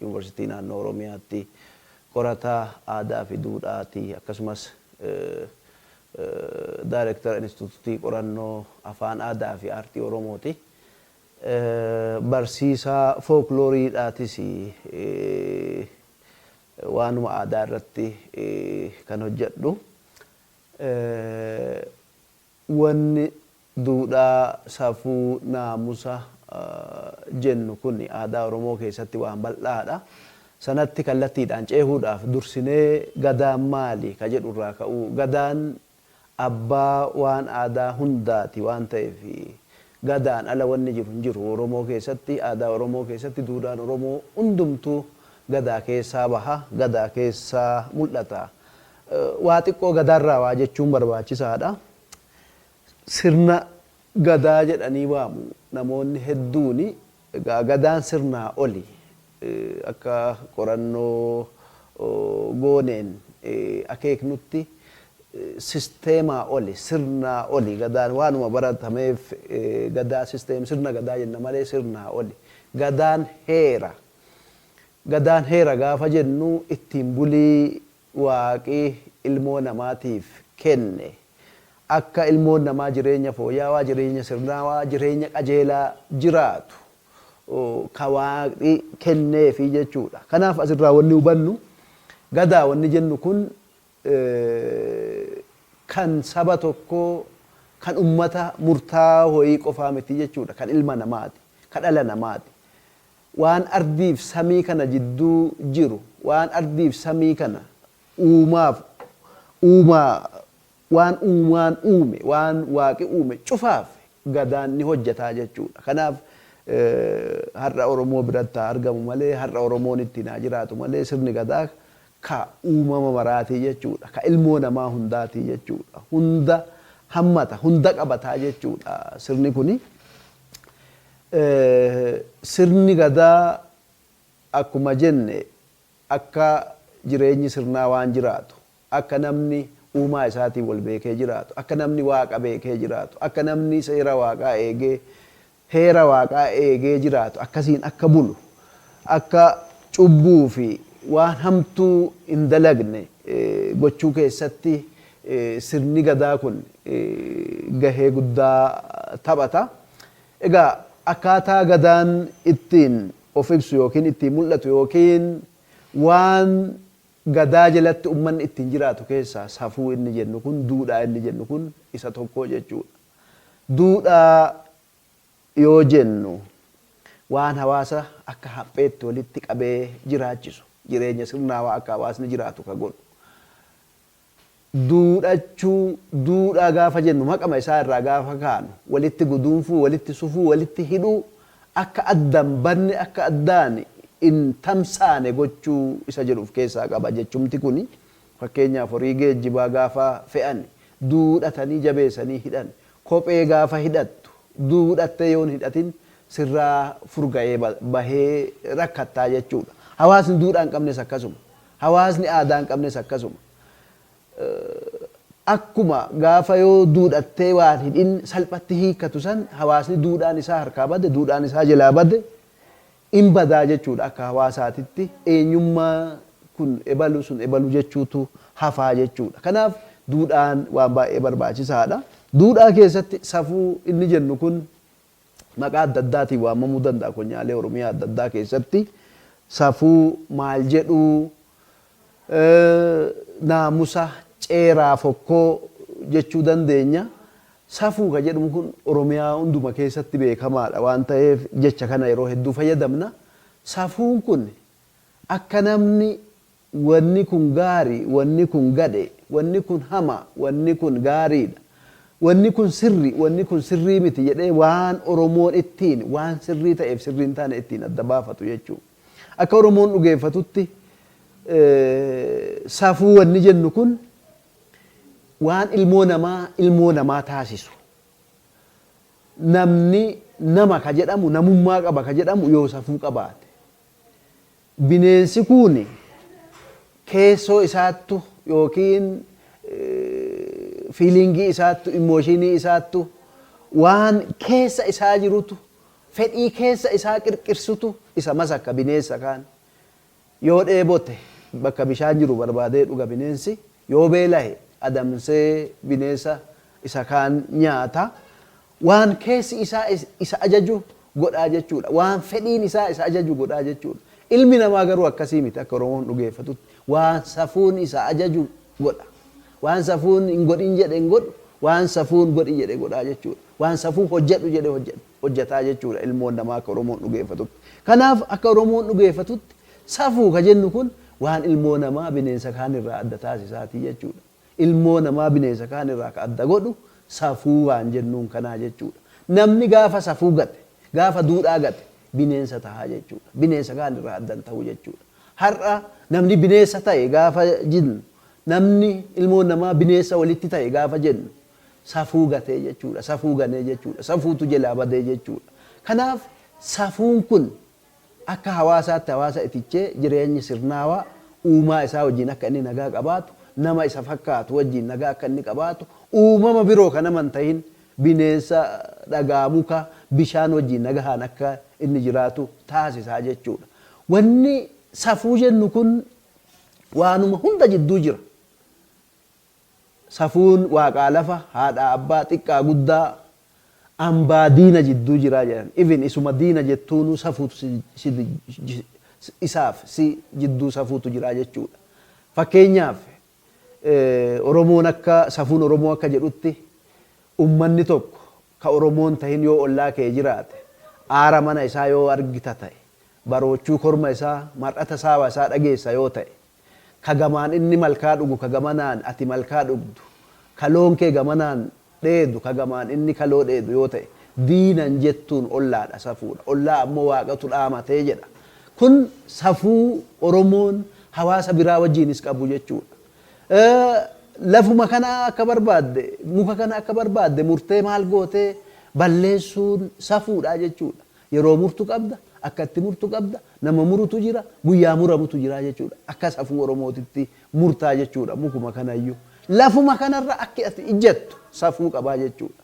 Yuunivarsiitii Naannoo Oromiyaatti qorataa aadaa fi duudhaa ti. Akkasumas Daayrektara Inistituutii Qorannoo Afaan Aadaa fi Aartii Oromoo ti. Barsiisaa Fookloorii dhaatis. Waanuma aadaa irratti kan hojjedhu. Wanni duudhaa, safuu, naamusa jennu kun aadaa Oromoo keessatti waan bal'aadha. Sanatti kallattiidhaan ceehuudhaaf dursinee Gadaan maali? ka jedhu irraa ka'uu. Gadaan abbaa waan aadaa hundaati waan ta'eef Gadaan ala wanni jiru hin jiru. Oromoo keessatti, aadaa Oromoo keessatti duudhaan Oromoo hundumtuu Gadaa keessaa baha, Gadaa keessaa mul'ata. Waa xiqqoo Gadaarraa waa jechuun barbaachisaadha. Sirna Gadaa jedhanii waamu namoonni hedduun. Egaa Gadaan sirnaa oli. Akka qorannoo gooneen akeeknutti sisteemaa oli, sirnaa oli Gadaan. Waanuma baratameef Gadaa system, sirna Gadaa jenna malee sirnaa oli. Gadaan heera. Gadaan heera gaafa jennu ittiin bulii Waaqi ilmoo namaatiif kenne. Akka ilmoon namaa jireenya fooya'awaa, jireenya sirnaawaa, jireenya qajeelaa jiraatu ka Waaqi kenneefi jechuu dha. Kanaaf as irraa wanni hubannu Gadaa wanni jennu kun kan saba tokkoo, kan ummata murtaawaa woyii qofaa miti jechuu dha. Kan ilma namaati. Ka dhala namaati. Waan ardiif samii kana jidduu jiru, waan ardiif samii kana uumaaf, uumaa, waan uumaan uume, waan Waaqi uume cufaaf Gadaan ni hojjeta jechuu dha. Kanaaf har'a Oromoo biratti haa argamu malee, har'a Oromoon ittiin haa jiraatu malee sirni Gadaa ka uumama maraa ti jechuu dha. Ka ilmoo namaa hundaa ti jechuu dha. Hunda hammata, hunda qabata jechuu dha sirni kuni. Sirni Gadaa akkuma jenne akka jireenyi sirnaa waan jiraatu, akka namni uumaa isaatiin wal beekee jiraatu, akka namni Waaqa beekee jiraatu, akka namni seera Waaqaa eegee, heera Waaqaa eegee jiraatu, akkasiin akka bulu, akka cubbuu fi waan hamtuu hin dalagne gochuu keessatti sirni Gadaa kun gahee guddaa taphata. Egaa akkaataa Gadaan ittiin of ibsu ykn ittiin mul'atu ykn waan Gadaa jalatti ummanni ittiin jiraatu keessaa safuu inni jennu kun, duudhaa inni jennu kun isa tokko jechuudha. Duudhaa yoo jennu waan hawaasa akka hapheetti walitti qabee jiraachisu, jireenya sirnaawaa akka hawaasni jiraatu ka godhu, Duudhachuu, duudhaa gaafa jennu maqama isaa irraa gaafa kaanu walitti guduunfuu, walitti sufuu, walitti hidhuu, akka adda hin banne, akka addaan hin tamsaane gochuu isa jedhu of keessaa qaba. Jechumti kuni fakkeenyaaf horii geejjibaa gaafa fe'ani duudhatanii jabeesanii hidhan, kophee gaafa hidhattu duudhattee yoo hin hidhatin sirraa furga'ee bahee rakkattaa jechuudha. Hawaasni duudhaa hin qabnes akkasuma. Hawaasni aadaa hin qabnes akkasuma. Akkuma gaafa yoo duudhattee waan hidhin salphatti hiikkatu san hawaasni duudhaan isaa harkaa bade, duudhaan isaa jelaa bade hin badaa jechuudha akka hawaasaatitti. Eenyummaa kun ebalu sun ebalu jechuutu hafaa jechuudha. Kanaaf duudhaan waan baay'ee barbaachisaadha. Duudhaa keessatti safuu inni jennu kun maqaa adda addaatiin waamamuu danda'a konyaalee Oromiyaa adda addaa keessatti safuu maal jedhuu naamusa ceeraa fokkoo jechuu dandeenya. Safuu kan jedhamu kun Oromiyaa hunduma keessatti beekamaadha waan ta'eef jecha kana yeroo hedduu fayyadamna. Safuun kun akka namni Wanni kun gaarii, wanni kun gadhee, wanni kun hamaa, wanni kun gaariidha, wanni kun sirrii, wanni kun sirrii miti jedhee waan Oromoon ittiin waan sirrii ta'eef sirrii hin taane ittiin adda baafatu jechuu. Akka Oromoon dhugeeffatutti safuu wanni jennu kun waan ilmoo namaa ilmoo namaa taasisu. Namni nama ka jedhamu namummaa qaba ka jedhamu yoo safuu qabaate. Bineensi kun keessoo isaattu yookiin fiiliingii isaattu, immooshiinii isaattu, waan keessa isaa jirutu, fedhii keessa isaa qirqirsutu isa masaka bineessa kaan. Yoo dheebote bakka bishaan jiru barbaadee dhuga bineensi, yoo beelahe adamsee bineessa isa kaan nyaata. Waan keessi isaa isa ajaju godhaa jechuudha. Waan fedhiin isaa isa ajaju godhaa jechuudha. Ilmi namaa garuu akkasii miti akka Oromoon dhugeeffatutti. Waan safuun isa ajaju godha. Waan safuun hin godhin jedhe hin godhu, waan safuun godhi jedhe godhaa jechuudha. Waan safuun hojjedhu jedhe hojjetaa jechuudha ilmoon namaa akka Oromoon dhugeeffatutti. Kanaaf akka Oromoon dhugeeffatutti safuu ka jennu kun waan ilmoo namaa bineensa kaan irraa adda taasisaati jechuudha. Ilmoo namaa bineesa kaan irraa ka adda godhu safuu waan jennuun kanaa jechuudha. Namni gaafa safuu gate, gaafa duudhaa gate bineensa tahaa jechuudha. Bineesa kaan irraa adda hin tahu jechuudha. Har'a namni bineessa tahe gaafa jinnu, namni, ilmoon namaa bineessa walitti tahe gaafa jennu safuu gatee jechuudha. Safuu ganee jechuudha. Safuutu jelaa badee jechuudha. Kanaaf safuun kun Akka hawaasaatti hawaasa itichee jireenyi sirnaawaa uumaa isaa wajjin akka inni nagaa qabaatu, nama isa fakkaatu wajjin nagaa akka inni qabaatu, uumama biroo ka nama hin tahin, bineensa, dhagaa, muka, bishaan wajjin nagahaan akka inni jiraatu taasisa jechuu dha. Wanni safuu jennu kun waanuma hunda jidduu jira. Safuun waaqaa lafa, haadhaa abbaa, xiqqaa guddaa, ambaa diina jidduu jira jedhan. Even isuma diina jettuunuu safuutu si si isaaf si jidduu safuutu jira jechuudha. Fakkeenyaaf Oromoon akka safuun Oromoo akka jedhutti ummanni tokko ka Oromoo hin tahin yoo ollaa kee jiraate aara mana isaa yoo argita ta'e baroochuu korma isaa, mar'ata saawa isaa dhageessa yoo ta'e, ka gamaan inni malkaa dhugu ka gamanaan ati malkaa dhugdu, ka loon kee gamanaan dheedu ka gamaan inni kaloo dheedu yoo ta'e, diinan jettuun ollaadha safuudha. Ollaa ammoo Waaqatu dhaamate jedha. Kun safuu Oromoon hawaasa biraa wajjiinis qabu jechuudha. Lafuma kana akka barbaadde, muka kana akka barbaadde murtee maal gootee balleessuun safuudha jechuudha. Yeroo murtu qabda, akka itti murtu qabda, nama murutu jira, guyyaa muramutu jira jechuudha. Akka safuu Oromootitti murtaa jechuudha mukuma kanayyu. Lafuma kanarra akki ati ijjattu safuu qabaa jechuudha.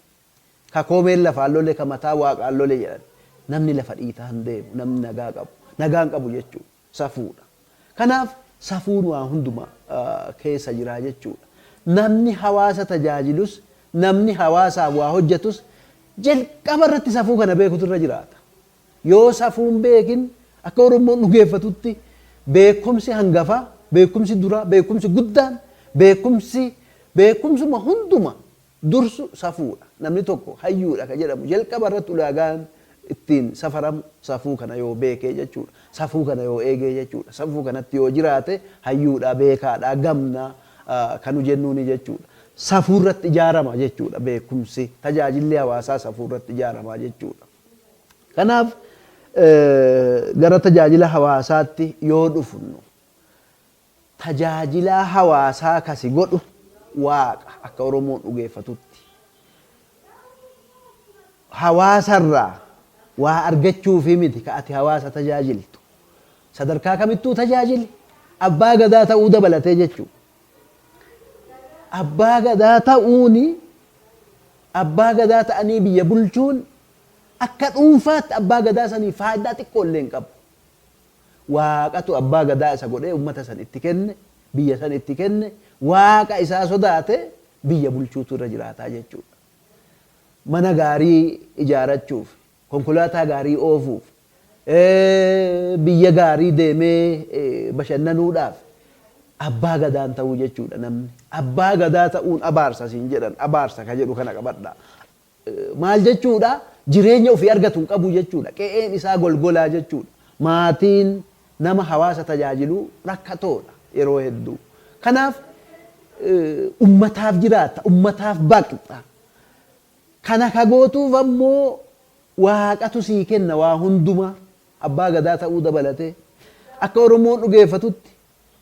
Ka koomeen lafaan lole ka mataa waaqaan lole jedhan. Namni lafa dhiitaa hin deemu, namni nagaa qabu, nagaa hin qabu jechuudha. Safuudha. Kanaaf safuun waa hunduma keessa jira jechuudha. Namni hawaasa tajaajilus, namni hawaasaaf waa hojjetus jalqaba irratti safuu kana beekutu irra jiraata. Yoo safuu hin beekin akka Oromoon dhugeeffatutti beekumsi hangafaa, beekumsi duraa, beekumsi guddaan, beekumsi beekumsuma hunduma dursu safuudha. Namni tokko hayyuudha kan jedhamu jalqaba irratti ulaagaan ittiin safaramu safuu kana yoo beekee jechuudha. Safuu kana yoo eegee jechuudha. Safuu kanatti yoo jiraate hayyuudha, beekaadha, gamna kan nu jennuuni jechuudha. Safuu irratti ijaarama jechuudha beekumsi, tajaajilli hawaasaa safuu irratti ijaarama jechuudha. Kanaaf gara tajaajila hawaasaatti yoo dhufnu, Tajaajilaa hawaasaa ka si godhu Waaqa akka Oromoon dhugeeffatutti. Hawaasa irraa waa argachuufii miti ka ati hawaasa tajaajiltu. Sadarkaa kamittuu tajaajili. Abbaa Gadaa ta'uu dabalatee jechuu. Abbaa Gadaa ta'uun Abbaa Gadaa ta'anii biyya bulchuun akka dhuunfaatti Abbaa Gadaa saniif faayidaa xiqqoo illee hin qabu. Waaqatu abbaa gadaa isa godhee ummata san itti kenne, biyya san itti kenne, Waaqa isaa sodaatee biyya bulchuutu irra jiraata jechuudha. Mana gaarii ijaarachuuf, konkolaataa gaarii oofuuf, biyya gaarii deemee bashannanuudhaaf abbaa gadaan ta'uu jechuudha namni. Abbaa gadaa ta'uun abaarsa siin jedhan, abaarsa ka jedhu kana qabadhaa. maal jechuudha? Jireenya ofii argatu hin qabu jechuudha. Qe'een isaa golgolaa jechuudha. Maatiin nama hawaasa tajaajilu rakkatoodha yeroo hedduu. Kanaaf ummataaf jiraatta, ummataaf baqxa. Kana ka gootuuf ammoo Waaqatu sii kenna waa hundumaa. Abbaa Gadaa ta'uu dabalatee. Akka Oromoon dhugeeffatutti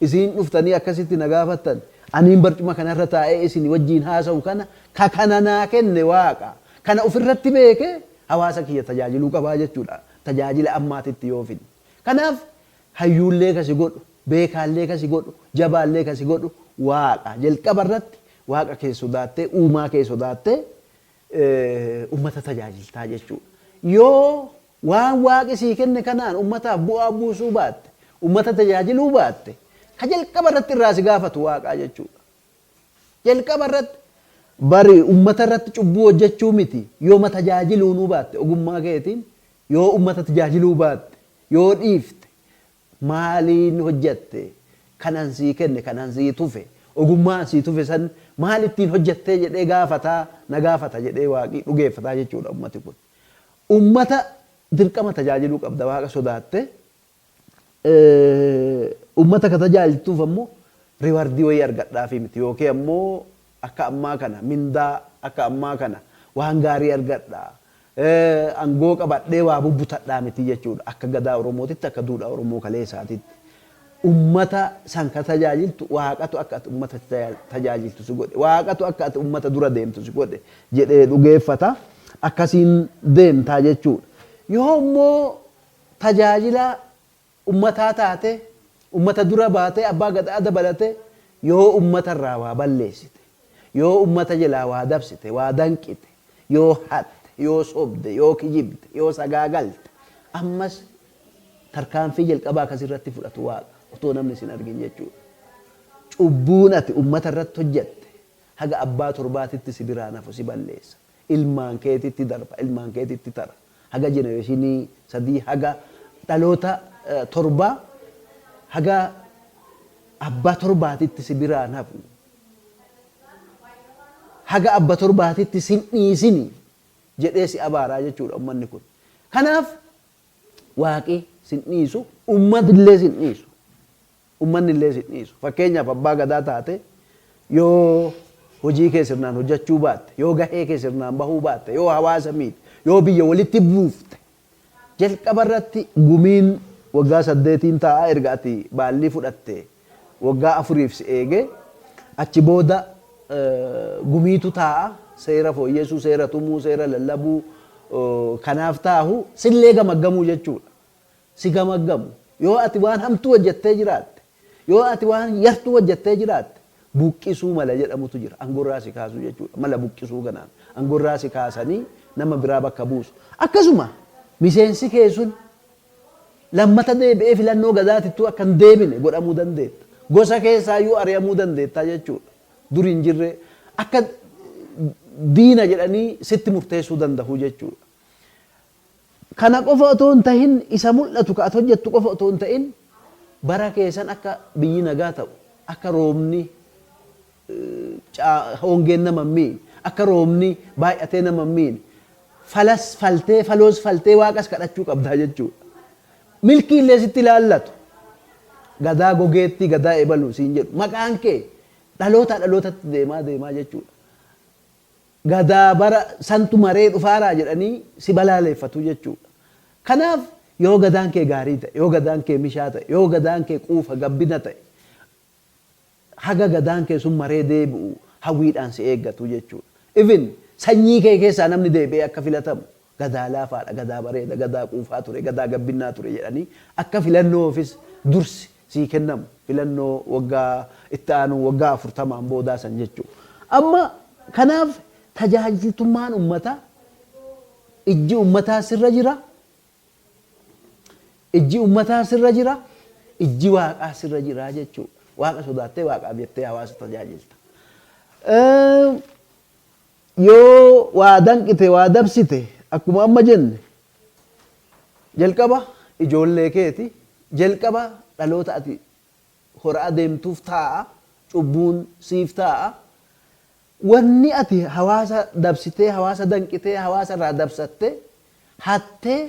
Isin dhuftanii akkasitti na gaafattan, aniin barcuma kana irra taa'ee isinii wajjin haasa'u kana ka kana naa kenne Waaqa. Kana of irratti beekee hawaasa kiyya tajaajiluu qaba jechuu dha, tajaajila ammaatitti yoo fidne. Kanaaf, hayyuullee ka si godhu, beekaallee ka si godhu, jabaallee ka si godhu Waaqa. Jalqaba irratti Waaqa kee sodaattee, uumaa kee sodaattee uummata tajaajilta jechuu dha. Yoo Waan Waaqi sii kenne kanaan ummataaf bu'aa buusuu baatte, ummata tajaajiluu baatte, ka jalqaba irratti irraa si gaafatu Waaqaa jechuu dha. Jalqaba irratti bari ummata irratti cubbuu hojjechuu miti, yoma tajaajiluunuu baatte ogummaa keetiin yoo ummata tajaajiluu baatte, yoo dhiifte, maaliin hojjette? Kan an sii kenne, kan an sii tufe, ogummaa an sii tufe san maal ittiin hojjettee jedhee gaafataa, na gaafata jedhee Waaqi dhugeeffataa jechuu dha ummati kun. Ummata dirqama tajaajiluu qabda Waaqa sodaatte. Ummata ka tajaajiltuuf ammoo riwardii wayii argadhaafii miti yookiin ammoo akka ammaa kana mindaa akka ammaa kana waan gaarii argadha, angoo qabadhee waa bubbutadhaa miti jechuudha. Akka gadaa Oromootitti akka duudhaa Oromoo kaleesaatitti. Ummata san ka tajaajiltu Waaqatu akka ati ummata tajaajiltu si godhe, Waaqatu akka ati ummata dura deemtu si godhe jedhee dhugeeffata. Akkasiin deemta jechuudha. Yoo immoo tajaajilaa ummataa taatee, ummata dura baatee, abbaa gadaa dabalatee yoo ummata irraa waa balleessite, yoo ummata jelaa waa dabsite, waa danqite, yoo hatte, yoo sobde, yoo kijibde, yoo sagaagalte, ammas Tarkaanfii jalqabaa akka sirratti fudhatu Waaqa, otoo namni sin argin jechuudha. Cubbuun ati ummata irratti hojjatte haga abbaa torbaatitti si biraan hafu si balleessa. Ilmaan keetitti darba, ilmaan keetitti tara. Haga jenereshinii sadii haga dhaloota torbaa haga abbaa torbaatitti si biraan hafu. Haga abba torbaatitti sin dhiisini jedhee si abaaraa jechuudha ummanni kun. Kanaaf Waaqi sin dhiisu, ummatillee sin dhiisu. Ummannillee sin dhiisu. Fakkeenyaaf abbaa gadaa taatee yoo hojii kee sirnaan hojjachuu baatte, yoo gahee kee sirnaan bahuu baatte, yoo hawaasa miite, yoo biyya walitti buufte, jalqabarratti gumiin waggaa saddeetiin taa'a erga ati baallii fudhattee. Waggaa afuriif si eege, achi booda gumiitu taa'a, seera fooyyesuu, seera tumuu, seera lallabuu kanaaf taahu sillee gamaggamuu jechuudha. Si gamaggamu. Yoo ati waan hamtuu hojjettee jiraatte, yoo ati waan yartuu hojjettee jiraatte buqqisuu mala jedhamutu jira. Angorraa si kaasuu jechuudha. Mala buqqisuu kanaan angorraa si kaasanii nama biraa bakka buusu. Akkasuma miseensi kee sun Lammata deebi'ee filannoo Gazaatittuu akka hin deebine godhamuu dandeetta. Gosa keessaayyuu ari'amuu dandeetta jechuudha. Dur hin jirree akka diina jedhanii sitti murteessuu danda'u jechuudha. Kana qofa otoo hin tahin isa mul'atu ka ati hojjettu qofa otoo hin ta'in bara keessan akka biyyi nagaa ta'u akka roobni C. Hongeen nama hin miine. Akka roobni baay'atee nama hin miine. Falas faltee, faloos faltee Waaqas kadhachuu qabda jechuudha. Milkii illee sitti ilaallatu. Gadaa Gogeettii, Gadaa Ebaluu siin jedhu. Maqaan kee dhalootaa dhalootatti deemaa deemaa jechuudha. Gadaa bara santu maree dhufaaraa jedhanii si balaaleeffatu jechuudha. Kanaaf yoo gadaan kee gaarii ta'e, yoo gadaan kee mishaa ta'e, yoo gadaan kee quufa gabbina ta'e, Haga Gadaan kee sun maree deebi'u hawwiidhaan si eeggatu jechuudha. Even sanyii kee keessaa namni deebi'ee akka filatamu Gadaa laafaadha, Gadaa bareeda, Gadaa quufaa ture, Gadaa gabbinnaa ture jedhanii akka filannoofis dursi sii kennamu filannoo waggaa itti aanuu waggaa 40n boodaa san jechuudha. Amma kanaaf tajaajiltummaan ummataa ijji ummataa sirra jira, Ijji ummataa sirra jira, ijji Waaqaa sirra jira jechuudha. Waaqa sodaattee, Waaqaaf jettee hawaasa tajaajilta. Yoo waa danqite, waa dabsite akkuma amma jenne jalqaba ijoollee keeti, jalqaba dhaloota ati hora'aa deemtuuf taa'a, cubbuun siif taa'a. Wanni ati hawaasa dabsitee, hawaasa danqitee, hawaasa irraa dabsattee, hattee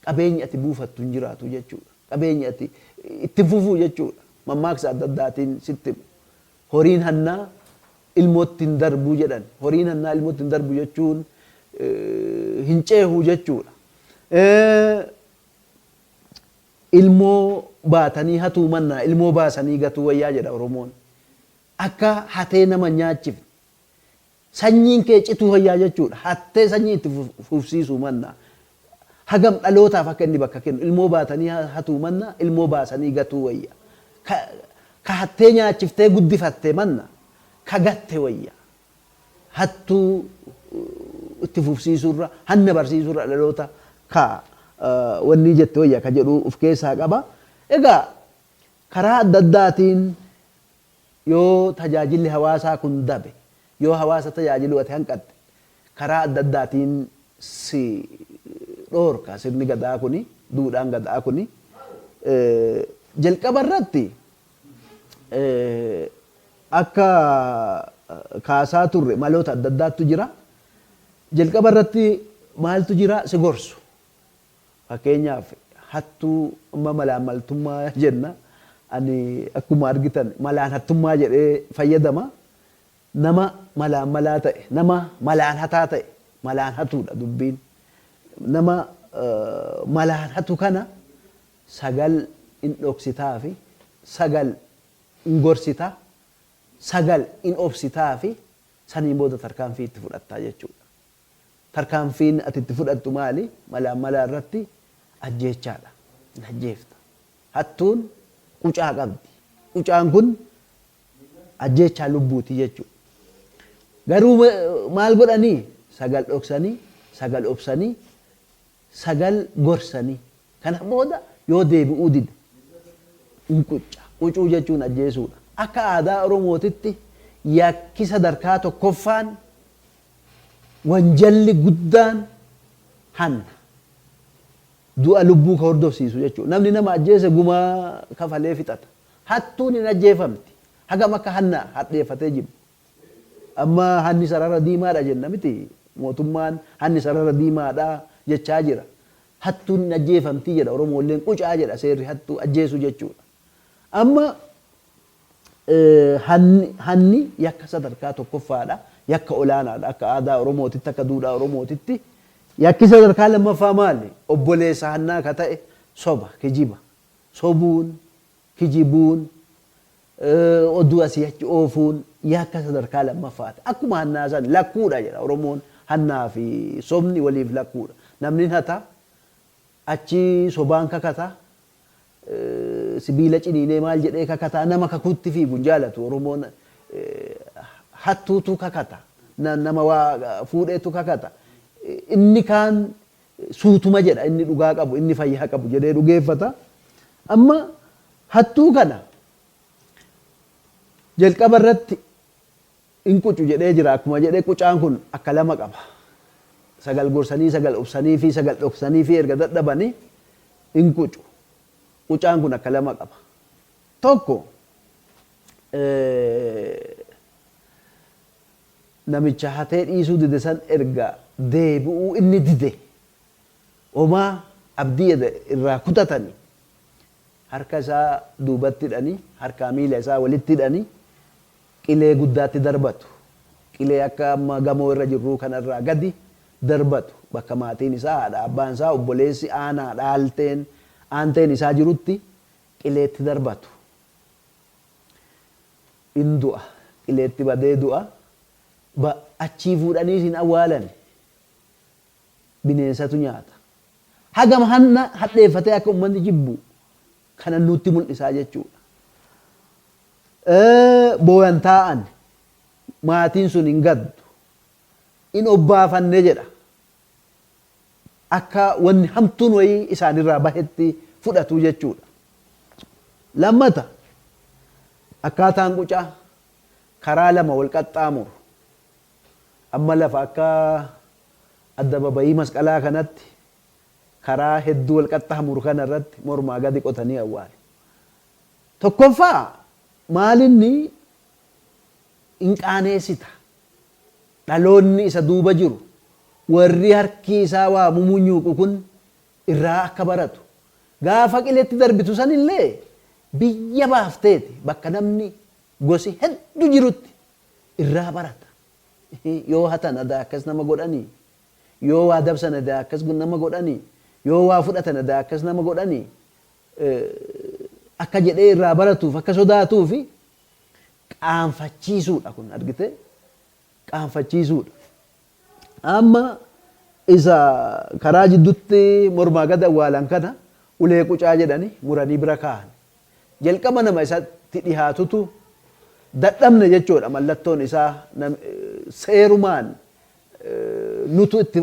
qabeenyi ati buufattu hin jiraatu jechuudha. Qabeenyi ati itti hin fufuu jechuudha. Mammaaksa adda addaatiin sitti himu. Horiin hannaa ilmootti hin darbu jedhan. Horiin hannaa ilmootti hin darbu jechuun hin ceehu jechuudha. Ilmoo baatanii hatuu mannaa ilmoo baasanii gatuu wayyaa jedha Oromoon. Akka hatee nama nyaachiftu. Sanyiin kee cituu fayyaa jechuudha. Hattee sanyii itti fufsiisuu mannaa. Hagam dhalootaaf akka inni bakka kennu. Ilmoo baatanii hatuu mannaa ilmoo baasanii gatuu wayya. Ka ka hattee nyaachiftee guddifatte manna ka gatte wayya. Hattuu itti fufsiisuurra, hanna barsiisuurra dhaloota ka wannii jette wayya ka jedhu uf keessaa qaba. Egaa karaa adda addaatiin Yoo tajaajilli hawaasaa kun dabe, yoo hawaasa tajaajiluu ati hanqatte, karaa adda addaatiin si dhoorka sirni Gadaa kuni, duudhaan Gadaa kuni. Jalqaba irratti akka kaasaa turre maloota adda addaattu jira. Jalqaba irratti maaltu jira? Si gorsu. Fakkeenyaaf hattuu amma malaammaltummaa jenna. Ani akkuma argitan malaan hattummaa jedhee fayyadama. Nama malaammalaa ta'e, nama malaan hataa ta'e malaan hatuudha dubbiin. Nama malaan hatu kana sagal in dhoksitaafi, sagal in gorsita, sagal in obsitaafi saniin booda tarkaanfii itti fudhatta jechuudha. Tarkaanfiin ati itti fudhattu maali? Malaammalaa irratti ajjeechaadha. Hin ajjeefta. Hattuun qucaa qabdi. Qucaan kun ajjeechaa lubbuuti jechuudha. Garuu maal godhanii? Sagal dhoksanii, sagal obsanii, sagal gorsanii. Kana booda yoo deebi'uu dide in qucca. Qucuu jechuun ajjeesuudha. Akka aadaa Oromootitti yakki sadarkaa tokkoffaan Wanjalli guddaan hanna. Du'a lubbuu ka hordofsiisu jechuudha. Namni nama ajjeese guma kafalee fixata. Hattuun hin ajjeefamti. Hagam akka hanna hadheeffatee jiru. Amma hanni sarara diimaadha jenna miti. Mootummaan hanni sarara diimaadha jechaa jira. Hattuun hin ajjeefamti jedha Oromoolleen qucaa jedha seerri hattuu ajjeesuu jechuudha. Amma Hanni yakka sadarkaa tokkoffaadha. Yakka olaanaadha. Akka aadaa Oromootitti, akka duudhaa Oromootitti. Yakki sadarkaa lammaffaa maali? Obboleessa hannaa ka ta'e soba, kijiba. Sobuun, kijibuun, oduu asii achi oofuun yakka sadarkaa lammaffaati. Akkuma hannaa san lakkuudha jedha Oromoon. Hannaa fi sobni waliif lakkuudha. Namnin hata, achi sobaan kakata, Sibiila ciniinee maal jedhee kakataa nama kakuutti fiigu hin jaalatu oromoon hattuutu kakata nama waa fuudheetu kakata inni kaan suutuma jedha inni dhugaa qabu inni fayyaa qabu jedhee dhugeeffata amma hattuu kana jalqaba irratti In qucu jedhee jira akkuma jedhe qucaan kun akka lama qaba. Sagal gorsanii sagal obsaniifi sagal dhoksaniifi erga dadhabani in qucu. Qucaan kun akka lama qaba. Tokko namicha hatee dhiisuu dide san erga deebi'uu inni dide homaa abdii eda irraa kutatani harka isaa duubatti hidhani harkaa miila isaa walitti hidhani qilee guddaatti darbatu. Qilee akka amma gamoo irra jirruu kana irraa gadi darbatu. Bakka maatiin isaa, haadha abbaan isaa, obboleessi, aanaa, dhaalteen, aanteen isaa jirutti qileetti darbatu. In du'a. Qileetti badee du'a. Ba, achii fuudhaniis hin awwaalani. Bineensatu nyaata. Hagam hanna hadheeffatee akka ummanni jibbu kana nuutti mul'isaa jechuudha. Booyan taa'an maatiin sun hin gaddu. In obbaafanne jedha. Akka wanni hamtuun wayii isaanirraa bahetti fudhatu jechuudha. Lammata akkaataan qucaa karaa lama wal qaxxaamuru. Amma lafa akka addababayii masqalaa kanatti karaa hedduu wal qaxxaamuru kana irratti mormaa gadi qotanii awwaalu. Tokkoffaa maalinni hin qaaneesita. Dhaloonni isa duuba jiru, warri harkii isaa waa mumunyuuqu kun irraa akka baratu. Gaafa qiletti darbitu san illee biyya baafteeti bakka namni gosi heddu jirutti irraa barata. Yoo hatan adaa akkas nama godhanii? Yoo waa dabsan adaa akkas nama godhani yoo waa fudhatan adaa akkas nama godhani akka jedhee irraa baratuuf akka sodaatuufi qaanfachiisuudha kun argitee qaanfachiisuudha. Amma isa karaa jiddutti mormaa gad awwaalan kana ulee qucaa jedhani muranii bira kaa'an. Jalqaba nama isatti dhihaatutu dadhabne jechuudha mallattoon isaa seerumaan nutu itti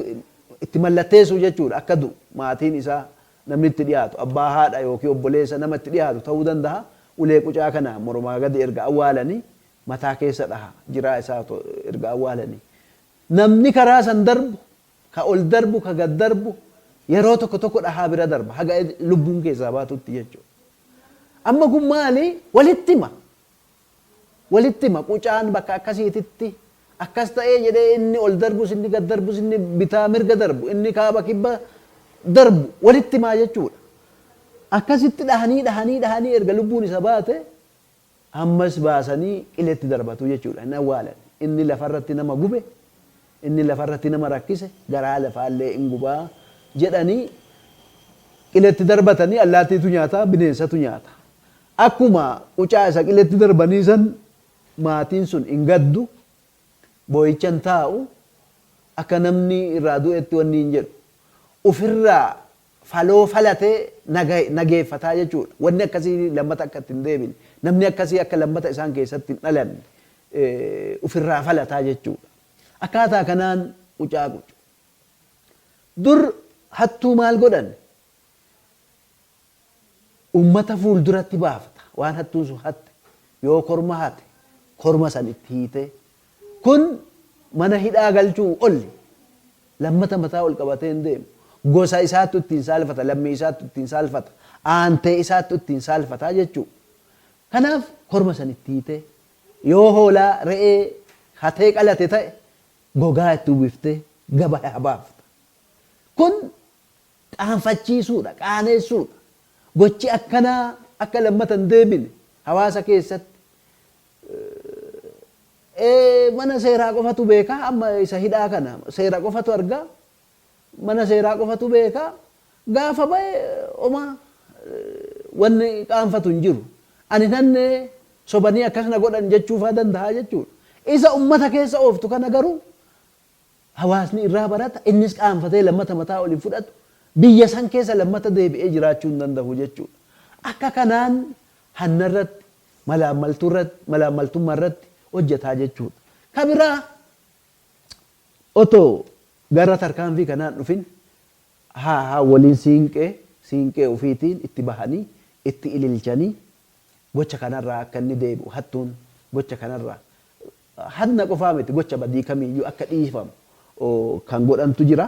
itti mallatteessu jechuudha akka du'u maatiin isaa namni itti dhiyaatu abbaa haadha yookiin obboleessa nama itti dhiyaatu ta'uu dandaha ulee qucaa kana mormaa gadi erga awwaalanii mataa keessa dhaha jiraa isaa otoo erga awwaalanii namni karaa san darbu ka ol darbu ka gad darbu yeroo tokko tokko dhahaa bira darba haga lubbuun keessaa baatutti jechuudha amma kun maali walitti hima Walitti hima, qucaan bakka akkasiititti akkas ta'ee jedhee inni ol darbus, inni gad darbus, inni bitaa mirga darbu, inni kaaba kibba darbu walitti himaa jechuudha. Akkasitti dhahanii, dhahanii, dhahanii erga lubbuun isa baate ammas baasanii qiletti darbatu jechuudha. Hin awwaalan. Inni lafarratti nama gube, inni lafarratti nama rakkise garaa lafaallee in guba jedhanii qiletti darbatanii allaattiitu nyaata, bineensatu nyaata. Akkuma qucaa isa qiletti darbanii san maatiin sun hin gaddu, booyicha hin taa'u, akka namni irraa du'etti wanni hin jedhu. Ufirraa faloo falatee nageeffataa jechuudha. Wanni akkasii lammata akka itti hin deebine, namni akkasii akka lammata isaan keessatti hin dhalanne ufirraa falataa jechuudha. Akkaataa kanaan qucaa qucu. Dur hattuu maal godhan? Ummata fuulduratti baafta waan hattuun sun hatte. Yoo korma hate korma san itti hiitee. Kun mana hidhaa galchuu olli. Lammata mataa ol qabatee hin deemu. Gosa isaattu ittiin saalfata, lammii isaattu ittiin saalfata, aantee isaattu ittiin saalfata jechuu. Kanaaf korma san itti hiitee. Yoo hoolaa, re'ee, hatee qalate ta'e gogaa itti uwwiftee gabaya baafta. Kun qaanfachiisuudha, qaaneessuudha. Gochi akkanaa akka lammata hin deebine hawaasa keessatti mana seeraa qofatu beeka amma isa hidhaa kana seera qofatu arga mana seeraa qofatu beeka gaafa ba'e oma wanni qaanfatu hin jiru. Ani nanne sobanii akkas na godhan jechuufaa danda'a jechuudha. Isa ummata keessa ooftu kana garuu hawaasni irraa barata, innis qaanfatee lammata mataa ol hin fudhatu, biyya san keessa lammata deebi'ee jiraachuu hin dandahu jechuudha. Akka kanaan hanna irratti, malaammaltuu irratti, malaammaltummaa irratti hojjata jechuudha. Ka biraa otoo gara tarkaanfii kanaa hin dhufin ha haawwoliin siinqee, siinqee ufiitiin itti bahanii, itti ililchanii gocha kanarraa akka inni deebi'u, hattuun gocha kanarraa Hanna qofaa miti gocha badii kamiiyyuu akka dhiifamu kan godhantu jira.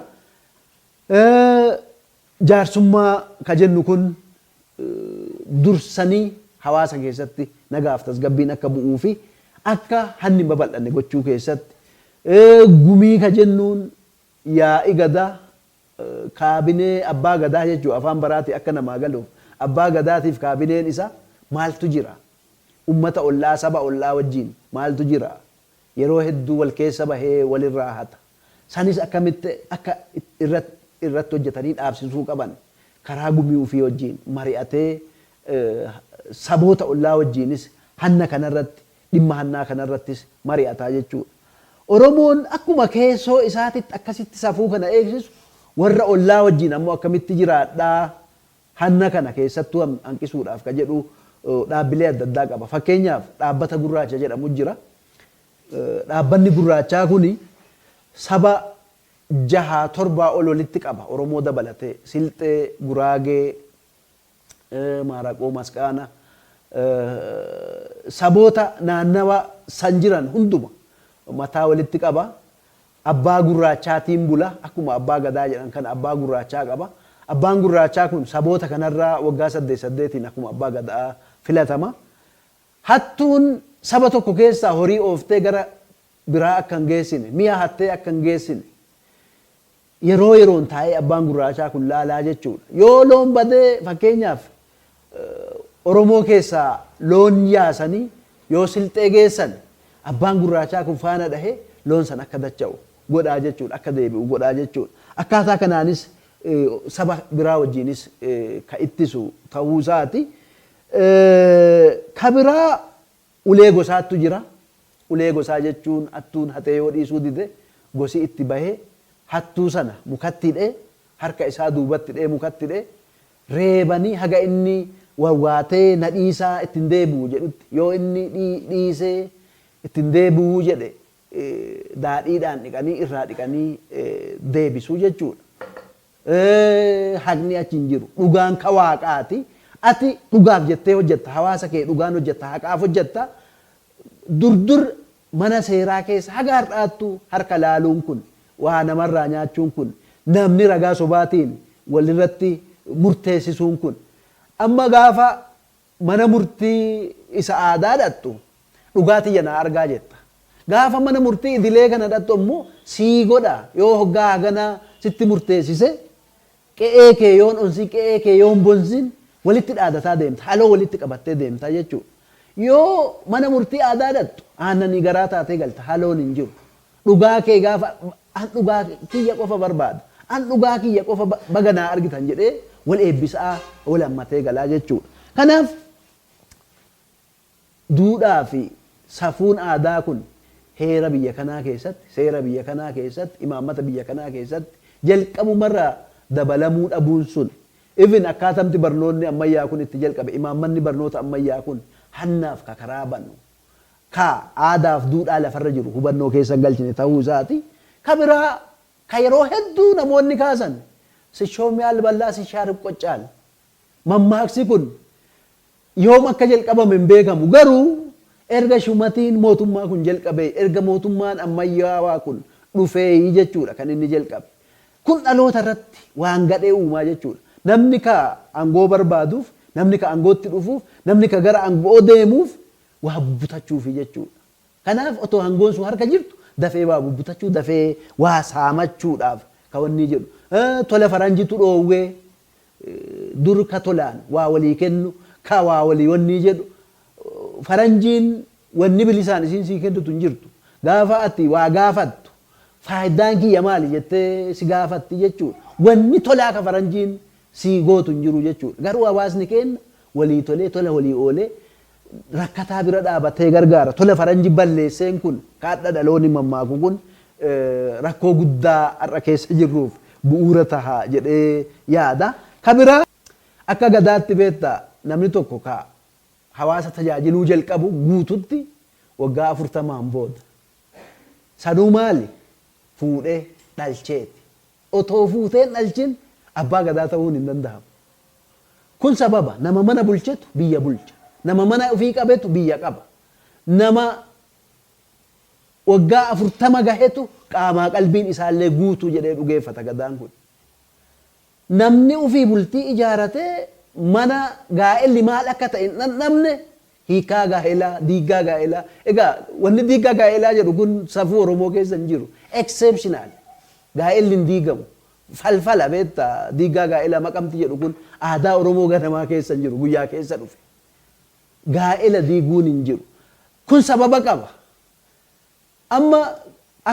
Jaarsummaa kan jennu kun dursanii hawaasa keessatti nagaaf tasgabbiin akka bu'uu fi akka hanni hin babal'anne gochuu keessatti, gumii kan jennuun Yaa'i Gadaa, Kaabinee Abbaa Gadaa jechuun afaan baraatiin akka namaa galuuf Abbaa Gadaatiif kaabineen isaa maaltu jira? Ummata ollaa, saba ollaa wajjiin maaltu jira? Yeroo hedduu wal keessa bahee wal irraa hata. Sanis akkamitti akka irratti hojjatanii dhaabsisuu qaban karaa gumii ufii wajjiin mari'atee saboota ollaa wajjiinis hanna kanarratti Dhimma hannaa kana irrattis mari'ata jechuu dha. Oromoon akkuma keessoo isaatitti akkasitti safuu kana eegsisu warra ollaa wajjin ammoo akkamitti jiraadha hanna kana keessattuu hanqisuudhaaf ka jedhu dhaabbilee adda addaa qaba. Fakkeenyaaf dhaabbata gurraacha jedhamu jira. Dhaabbanni gurraachaa kuni saba jahaa torbaa ol walitti qaba Oromoo dabalatee Silxee, Guraagee, maaraqoo masqaana saboota naannawa san jiran hunduma mataa walitti qaba. Abbaa gurraachaatiin bula. Akkuma abbaa gadaa jedhan kana abbaa gurraachaa qaba. Abbaan gurraachaa kun saboota kanarraa waggaa saddeet saddeetiin akkuma abbaa gadaa filatama. Hattuun saba tokko keessaa horii ooftee gara biraa akka hin geessine, mi'a hattee akka hin geessine, Yeroo yeroon taa'ee abbaan gurraachaa kun laalaa jechuudha. Yoo loon bade fakkeenyaaf Oromoo keessaa loon yaasanii yoo Silxee geessan abbaan gurraachaa kun faana dhahee loon sana akka dacha'u godhaa jechuudha, akka deebi'u godhaa jechuudha. Akkaataa kanaanis saba biraa wajjiinis ka ittisu tahuu isaati. Ka biraa Ulee gosaattu jira. Ulee gosaa jechuun hattuun hatee yoo dhiisuu dide gosi itti bahee hattuu sana mukatti hidhee harka isaa duubatti hidhee mukatti hidhee reebanii haga inni wawwaatee na dhiisaa itti hin deebi'u jedhutti yoo inni dhiisee itti hin deebi'uu jedhe daadhiidhaan dhiqanii irraa dhiqanii deebisu jechuudha. Haqni achi hin jiru. Dhugaan ka Waaqaati. Ati dhugaaf jettee hojjetta. Hawaasa kee dhugaan hojjetta. Haqaaf hojjetta. Dur dur mana seeraa keessa haga har'aattu harka laaluun kun, waa namarraa nyaachuun kun, namni ragaa sobaatiin walirratti murteessisuun kun amma gaafa mana murtii isa aadaa dhaqxu dhugaa tiyya naa argaa jetta. Gaafa mana murtii idilee kana dhaqxu ammoo sii godha yoo hoggaa haganaa sitti murteessise qe'ee kee yoon onsiin qe'ee kee yoon bonsiin walitti dhaadataa deemta haloo walitti qabattee deemta jechuudha. Yoo mana murtii aadaa dhaqxu aannanii garaa taatee galta haloon hin jiru. Dhugaa kee gaafa An dhugaa kiyya qofa barbaada. An dhugaa kiyya qofa baga naa argitan jedhee wal eebbisa'aa wal hammatee galaa jechuudha. Kanaaf duudhaa fi safuun aadaa kun heera biyya kanaa keessatti, seera biyya kanaa keessatti, imaammata biyya kanaa keessatti jalqabuma irraa dabalamuu dhabuun sun even akkaatamti barnoonni ammayyaa kun itti jalqabe, imaammanni barnoota ammayyaa kun hannaaf ka karaa banu ka aadaa fi duudhaa lafa irra jiru hubannoo keessa hin galchine tahuu isaati. Ka biraa ka yeroo hedduu namoonni kaasan Sishoo miyaa lballaa sishaa ripqoccaal. Mammaaksi kun yoom akka jalqabame hin beekamu garuu erga shumatiin mootummaa kun jalqabee erga mootummaan ammayyaawaa kun dhufeeyi jechuudha kan inni jalqabe. Kun dhaloota irratti waan gadhee uumaa jechuudha. Namni ka angoo barbaaduuf, namni ka angootti dhufuuf, namni ka gara ango'oo deemuuf waa bubbutachuufi jechuudha. Kanaaf otoo angoon sun harka jirtu dafee waa bubbutachuu, dafee waa saamachuudhaaf ka wannii jedhu. Tola faranjitu dhoowwee, Dur ka tolaan waa walii kennu, ka waa walii wannii jedhu, faranjiin wanni bilisaan isiin sii kennitu hin jirtu. Gaafa ati waa gaafattu, faaydaan kiyya maali jettee si gaafatti jechuu dha. Wanni tolaa ka faranjiin sii gootu hin jiru jechuu dha. Garuu hawaasni keenna walii tolee, tola walii oolee, rakkataa bira dhaabatee gargaara. Tola faranji balleesseen kun kaadha dhalooni mammaaku kun rakkoo guddaa har'a keessa jirruuf bu'uura taha jedhee yaada. Ka biraa akka gadaatti beekta namni tokko ka hawaasa tajaajiluu jalqabu guututti waggaa afurtamaan booda. Sanuu maali? Fuudhee dhalcheeti. Otoo fuutee hin dhalchin Abbaa Gadaa tahuun hin dandahamu. Kun sababa nama mana bulchetu biyya bulcha. Nama mana ofii qabetu biyya qaba. Nama waggaa 40 gahetu qaamaa qalbiin isaallee guutuu jedhee dhugeeffata Gadaan kun. Namni ofii bultii ijaaratee mana gaa'elli maal akka ta'e hin dhandhamne Hiikaa gaa'elaa, diiggaa gaa'elaa. Egaa wanni diiggaa gaa'elaa jedhu kun safuu Oromoo keessa hin jiru. Exceptional. Gaa'elli hin diigamu. Falfala beekta diiggaa gaa'elaa maqamti jedhu kun aadaa Oromoo ganamaa keessa hin jiru guyyaa keessa dhufe. Gaa'ela diiguun hin jiru. Kun sababa qaba. Amma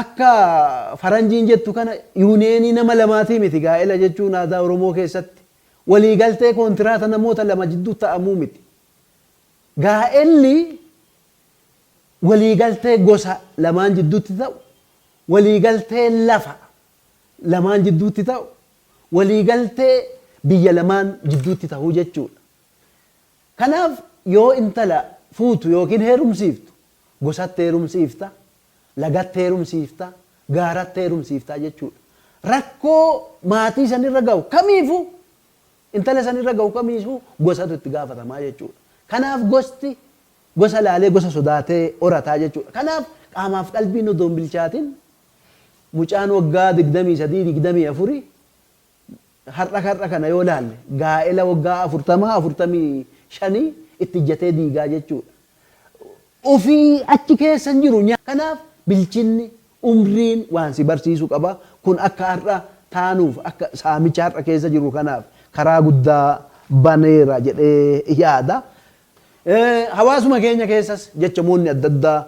akka faranjiin jettu kana yuuniyeenii nama lamaatii miti gaa'ela jechuun aadaa Oromoo keessatti. Walii galtee kontiraata namoota lama jidduu ta'amuu miti. Gaa'elli waliigaltee gosa lamaan jidduutti ta'u, waliigaltee lafa lamaan jidduutti ta'u, waliigaltee biyya lamaan jidduutti ta'u jechuudha. Kanaaf yoo intala fuutu ykn heerumsiiftu gosatti heerumsiifta, lagatti heerumsiifta, gaaratti heerumsiifta jechuudha. Rakkoo maatii sanirra gahu kamiifuu Intala san irra gahu kamiisuu gosatu itti gaafatamaa jechuudha. Kanaaf gosti gosa laalee gosa sodaatee horataa jechuudha. Kanaaf qaamaaf qalbiin odoo hin bilchaatin mucaan waggaa 23, 24 har'a har'a kana yoo laalle gaa'ela waggaa 40, 45 itti ijjatee diigaa jechuudha. ofii achi keessa hin jiru. Kanaaf bilchinni, umriin waan si barsiisu qaba. Kun akka har'a taanuuf, akka saamicha har'a keessa jirru kanaaf karaa guddaa baneera jedhee yaada. Hawaasuma keenya keessas jechamoonni adda addaa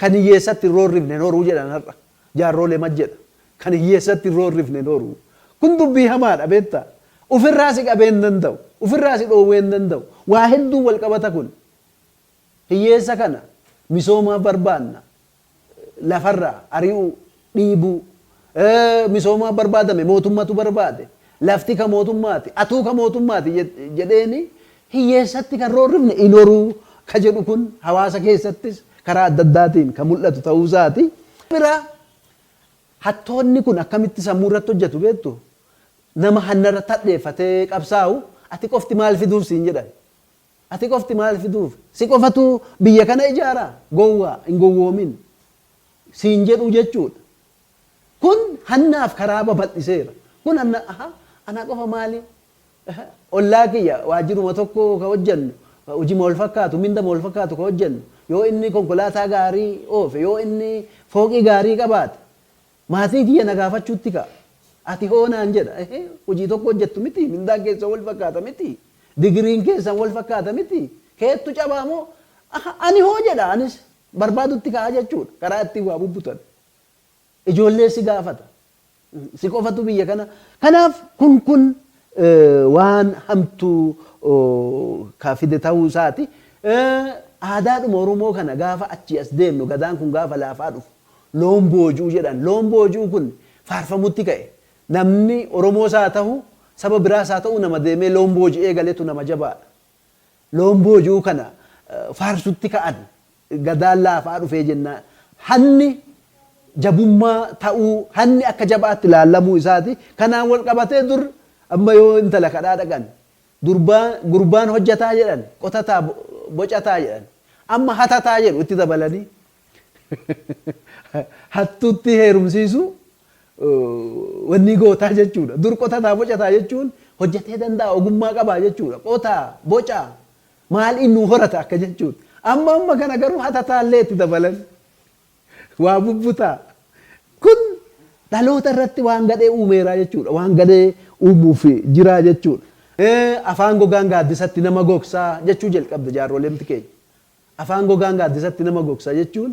kan hiyyeessatti hin roorrifne hin horuu jedhan har'a. Jaarroo lema jedha. Kan hiyyeessatti irroo hin rifne hin horu. Kun dubbii hamaadha beektaa. Ufirraa si qabee hin danda'u. Ufirraa si dhoowwee hin danda'u. Waa hedduun wal qabata kun. Hiyyeessa kana misoomaaf barbaanna. Lafarraa ari'uu, dhiibuu. Misoomaaf barbaadame mootummatu barbaade. Lafti ka mootummaati, atuu ka mootummaati jedheeni hiyyeessatti kan roorrifne hin horuu ka jedhu kun hawaasa keessattis karaa adda addaatiin kan mul'atu ta'uu isaati. Kan biraa hattoonni kun akkamitti sammuu irratti hojjetu beektu? Nama hanna irratti hadheeffatee qabsaa'u ati qofti maal fiduuf siin jedhan. Ati qofti maal fiduuf? Si qofatu biyya kana ijaaraa? Gowwaa hin gowwoomin siin jedhu jechuudha. Kun hannaaf karaa babal'iseera. Kun hanna, ahaa, anaa qofa maali? Ehe, ollaa kiyya, waajjiruma tokko ka hojjannu, hojima wal fakkaatu, mindama wal fakkaatu ka hojjannu, yoo inni konkolaataa gaarii oofe, yoo inni fooqii gaarii qabaate, maatii kiyya na gaafachuutti ka'a. Ati hoo naan jedha. Ehe, hojii tokko hojjattu mitii? Mindaan keessan wal fakkaata mitii? Digiriin keessan wal fakkaata mitii? Keettu cabaa moo? Ahaa, ani hoo jedha, anis barbaadutti ka'a jechuu dha, karaa ittiin waa bubbutan. Ijoollee si gaafata. Si qofatu biyya kana. Kanaaf kun kun waan hamtuu ka fide ta'uu isaati. Aadaadhuma Oromoo kana gaafa achii as deemnu gadaan kun gaafa laafaa dhufu loon booji'u jedhan. Loon booji'uu kun faarfamutti ka'e. Namni Oromoos haa ta'u saba biraas haa ta'u nama deemee loon booji'ee galetu nama jabaadha. Loon booji'uu kana faarsutti ka'an. Gadaan laafaa dhufee jennaan hanni jabummaa ta'uu, hanni akka jabaatti laallamuu isaati. Kanaan wal qabatee dur amma yoo intala kadhaa dhaqan durbaa gurbaan hojjataa jedhan, qotataa, bocataa jedhan. Amma hatataa jedhu itti dabalanii. Hattuuttii heerumsiisuu wannii gootaa jechuudha. Dur qotataa bocataa jechuun hojjatee danda'a ogummaa qabaa jechuudha. Qotaa, bocaa, maaliin nuu horata akka jechuudha. Amma amma kana garuu hatataa illee itti dabalan. Waa bubbutaa. Kun dhaloota irratti waan gadhee uumeeraa jechuudha. Waan gadhee uumuuf jiraa jechuudha. Afaan gogaan gaaddisatti nama gogsaa jechuu jalqabde jaarrolemti keenya. Afaan gogaan gaaddisatti nama gogsa jechuun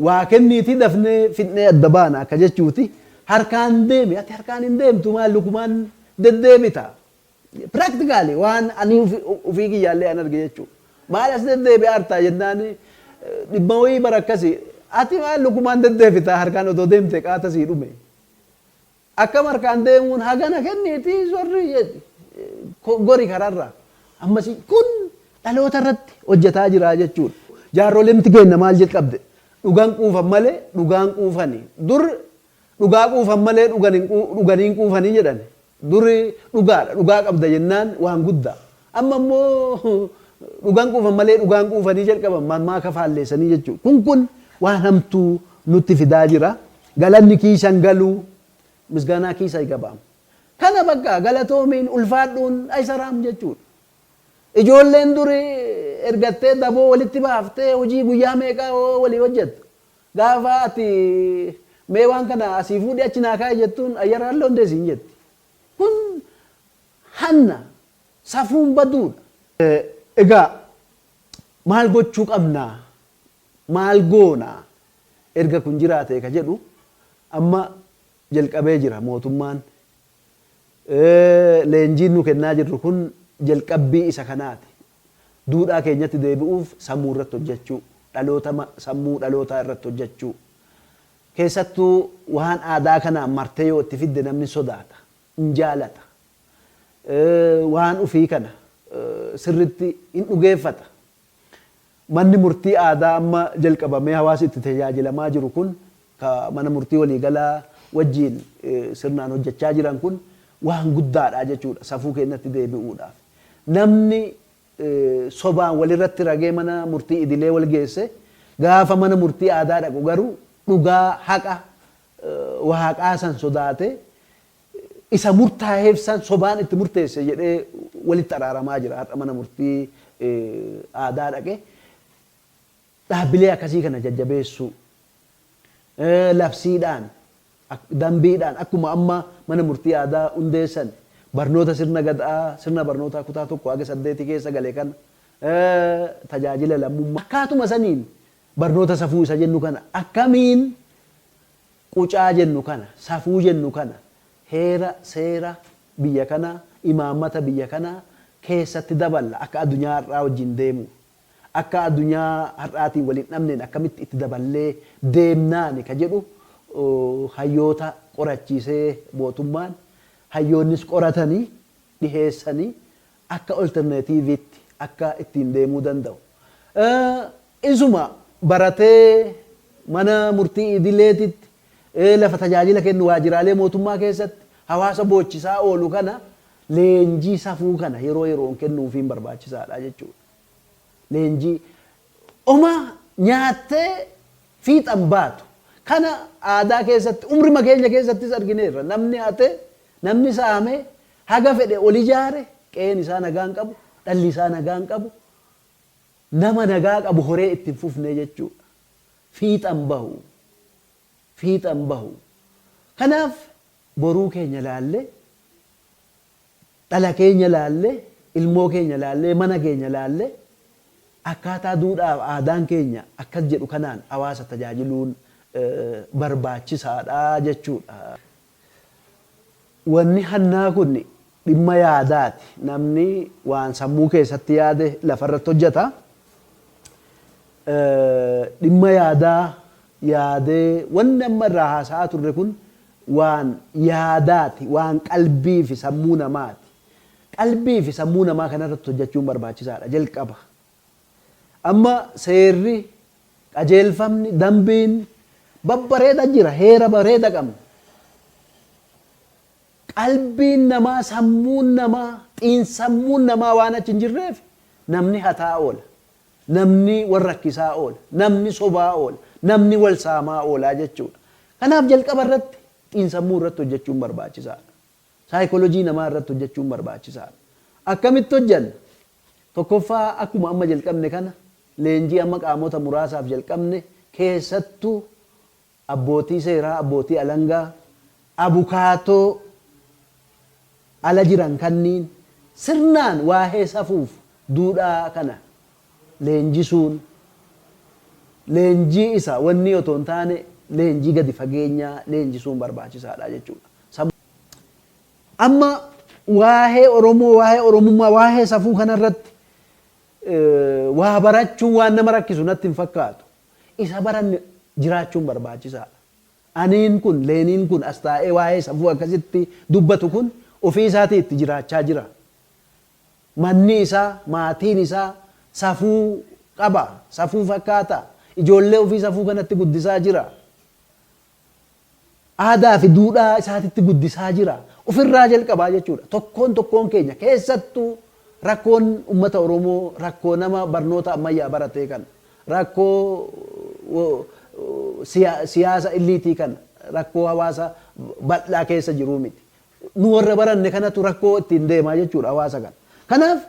waa kenniitii dafnee fixnee adda baana akka jechuuti. Harkaan deemi ati harkaan hin deemtu maal lukumaan deddeebita. Practically waan ani ofii kiyyaallee an arge jechuu. Maal as deddeebi'aa artaa jennaan dhibba wayii bara akkasi ati maal lukumaan deddeebita harkaan odoo deemte qaata sii dhume. Akkam harkaan deemuun hagana kenniiti zorri jedhi gori kararra. Ammasi kun dhaloota irratti hojjetaa jira jechuudha. Jaarrolemti keenna maal jalqabde? Dhugan quufan malee dhugaan quufani. Dur dhugaa quufan malee dhuganii hin quufani jedhani. Dur dhugaadha dhugaa qabda jennaan waan guddaa. Amma immoo dhugan quufan malee dhugaan quufanii jalqaban mammaaka faalleessanii jechuudha. Kun kun waan hamtuu nutti fidaa jira. Galanni kiisa hin galu misgaanaa kiisa aygabaam. Kana bakka galatoomiin ulfaadhuun aysaraam jechuudha. Ijoolleen duri ergattee daboo walitti baaftee hojii guyyaa meeqaa hoo walii hojjettu. Gaafa ati mee waan kana asii fuudhi achi naa kaa'i jettuun ayyaraan loondee siin jetti. Kun hanna, safuun baduudha. Egaa maal gochuu qabna? Maal goona erga kun jiraatee ka jedhu amma jalqabee jira mootummaan. Leenjiin nu kennaa jirru kun jalqabbii isa kanaati. Duudhaa keenyatti deebi'uuf sammuu irratti hojjachuu, dhaloota sammuu dhalootaa irratti hojjachuu. Keessattuu waan aadaa kanaan martee yoo itti fidde namni sodaata, hin jaalata. Waan ufii kana sirritti hin dhugeeffata. Manni murtii aadaa amma jalqabamee hawaasi itti tajaajilamaa jiru kun ka mana murtii waliigalaa wajjiin sirnaan hojjachaa jiran kun waan guddaadha jechuudha safuu keenyatti deebi'uudhaaf. Namni sobaan walirratti ragee mana murtii idilee wal geesse gaafa mana murtii aadaa dhaqu garuu dhugaa, haqa, Waaqaa san sodaatee isa murtaaheef san sobaan itti murteesse jedhee walitti araaramaa jira. Har'a mana murtii aadaa dhaqee dhaabbilee akkasii kana jajjabeessuu labsiidhaan dambiidhaan akkuma amma mana murtii aadaa hundeessan barnoota sirna gad'aa sirna barnootaa kutaa tokko haga saddeeti keessa gale kana tajaajila lammummaa akkaatuma saniin barnoota safuu isa jennu kana akkamiin Qucaa jennu kana, safuu jennu kana, heera, seera, biyya kanaa, imaammata biyya kanaa keessatti daballa akka adunyaa har'aa wajjin deemuuf. Akka adunyaa har'aatiin wal hin dhabneen akkamitti itti daballee deemnaani ka jedhu hayyoota qorachiisee mootummaan, hayyoonnis qoratanii dhiheessanii akka olterneetiiviitti akka ittiin deemuu danda'u isuma baratee mana murtii idileetitti, lafa tajaajila kennu waajjiraalee mootummaa keessatti hawaasa boochisaa oolu kana leenjii safuu kana yeroo yeroon kennuufiin barbaachisaadha jechuudha. Leenjii homa nyaattee fiixan baatu. Kana aadaa keessatti umrima keenya keessattis argineerra. Namni hate, namni saame Haga fedhe ol ijaare, qe'een isaa nagaa hin qabu, dhalli isaa nagaa hin qabu, nama nagaa qabu horee itti hin fufne jechuudha. Fiixa hin bahu. Fiixa hin bahu. Kanaaf boruu keenya ilaallee, dhala keenya ilaallee, ilmoo keenya ilaallee, mana keenya ilaallee akkaataa duudhaa fi aadaan keenya akkas jedhu kanaan hawaasa tajaajiluun barbaachisaadha jechuudha. Wanni hannaa kun dhimma yaadaati. Namni waan sammuu keessatti yaade lafarratti hojjata. Dhimma yaadaa yaadee wanni amma irraa haasa'aa turre kun waan yaadaati, waan qalbii fi sammuu namaati. Qalbii fi sammuu namaa kanarratti hojjachuun barbaachisaadha jalqaba. Amma seerri, qajeelfamni, dambiin babbareeda jira. Heera bareeda qabna. Qalbiin namaa, sammuun namaa, xiinsammuun namaa waan achi hin jirreef namni hataa oola. Namni wal rakkisaa oola. Namni sobaa oola. Namni wal saamaa oolaa jechuudha. Kanaaf jalqaba irratti xiinsammuu irratti hojjechuun barbaachisaadha. Saaykolojii namaa irratti hojjechuun barbaachisaadha. Akkamitti hojjenna? Tokkoffaa akkuma amma jalqabne kana leenjii amma qaamota muraasaaf jalqabne keessattu abbootii seeraa, abbootii alangaa, abukaatoo ala jiran kanniin sirnaan waahee safuuf duudhaa kana leenjisuun leenjii isa wannii otoo hin taane leenjii gadi fageenyaa leenjisuun barbaachisaadha jechuudha. Amma waahee Oromoo, waahee Oromummaa, waahee safuu kana irratti waa barachuun waan nama rakkisu natti hin fakkaatu. Isa baranne jiraachuun barbaachisaa dha. Aniin kun, Leeniin kun as taa'ee waahee safuu akkasitti dubbatu kun ofii isaatii itti jiraachaa jira. Manni isaa, maatiin isaa safuu qaba, safuu fakkaata, ijoollee ofii safuu kanatti guddisaa jira. Aadaa fi duudhaa isaatitti guddisaa jira. Of irraa jalqabaa jechuudha. Tokkoon tokkoon keenya keessattuu rakkoon ummata Oromoo rakkoo nama barnoota ammayyaa baratee kana, rakkoo siyaasa illiitii kana, rakkoo hawaasa bal'aa keessa jiruu miti. Nu warra baranne kanatu rakkoo ittiin deema jechuudha hawaasa kana. Kanaaf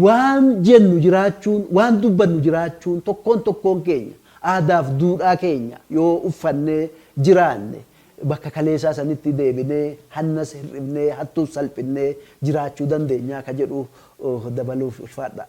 Waan jennu jiraachuun, waan dubbannu jiraachuun tokkoon tokkoon keenya aadaaf duudhaa keenya yoo uffannee jiraanne bakka kaleesaa sanitti deebinee hannas hir'ifnee hattuus salphinnee jiraachuu dandeenyaa ka jedhu dabaluuf ulfaadhaa.